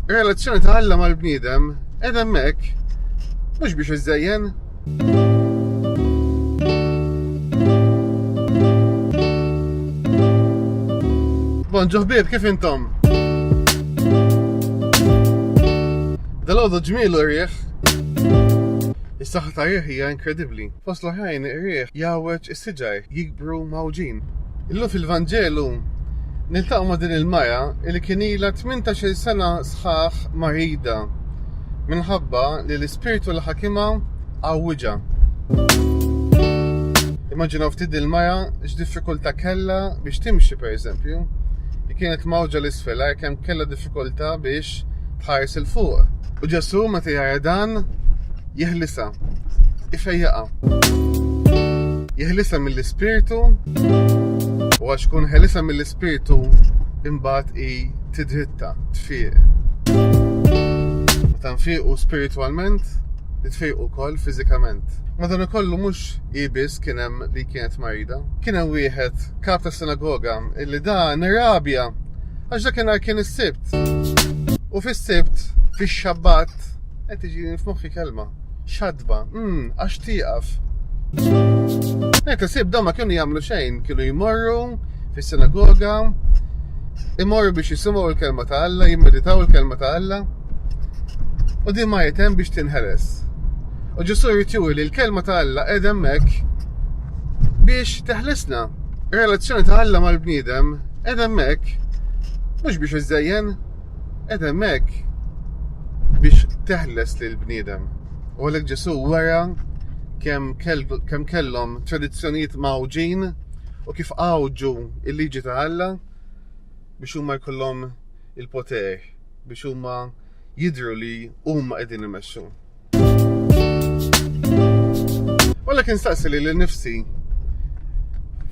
Relazzjoni ta' Alla mal-bniedem qed hemmhekk mhux biex iżejjen. Bon ġoħbib kif intom? Dal-għodu ġmielu rieħ. Is-saħħa ta' rieħ hija inkredibbli. Fost l-oħrajn rieħ jawweġ is-siġar, Bru Mgħawġin. Illum fil-Vanġelu niltaqgħu ma' din il-mara li kien ilha tmintax-il sena sħaħ marida minħabba li l-ispirtu li ħakimha għawwiġha. Immaġinaw ftit din il-mara x'diffikultà kellha biex timxi pereżempju. Hi kienet mgħawġa 'l isfel, ara kemm kellha diffikultà biex Ħares il fuq. U Ġesu meta jara dan jeħlisa. Ifejjaqa. Jeħlisa mill-ispirtu u għax kun ħelisa mill-ispirtu imbagħad i tidritta tfiq. Meta nfiqu spiritualment, nitfiqu wkoll fiżikament. Madan kollu mhux ibis kien hemm li kienet marida. Kien hemm wieħed kap ta' sinagoga illi da nirrabja Għax dakinhar kien is-Sibt. U fis-Sibt, fix-Xabbat, qed tiġi f'moħħi kelma. Xadba, mm, għax tieqaf. Qed isib dawn ma kienu jagħmlu xejn, kienu jmorru fis-sinagoga, imorru biex jisimgħu l-kelma ta' Alla, jimmeditaw il-kelma ta' Alla. U din ma jitem biex tinħeles. U ġusu jrid li l-kelma ta' Alla qed hemmhekk biex teħlisna. Ir-relazzjoni ta' Alla mal-bniedem qed hemmhekk mhux biex iżżejjen, qed hemmhekk biex teħles lil bniedem. U għalhekk Ġesu wera kemm kem kellhom tradizzjonijiet mawġin u kif għawġu il-liġi ta' Alla biex huma jkollhom il-poter, biex huma jidru li huma qegħdin imexxu. Walla kien staqsi li l-nifsi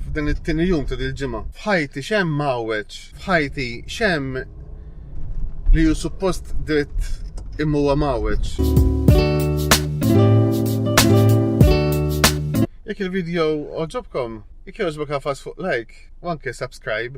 f'dan it-tini jum ta' dil-ġimgħa. F'ħajti xem mawweċ, f'ħajti xem li ju suppost dritt immuwa mawweċ. Jek il-video oġobkom, jek joġbok għafas fuq like, like u anke subscribe.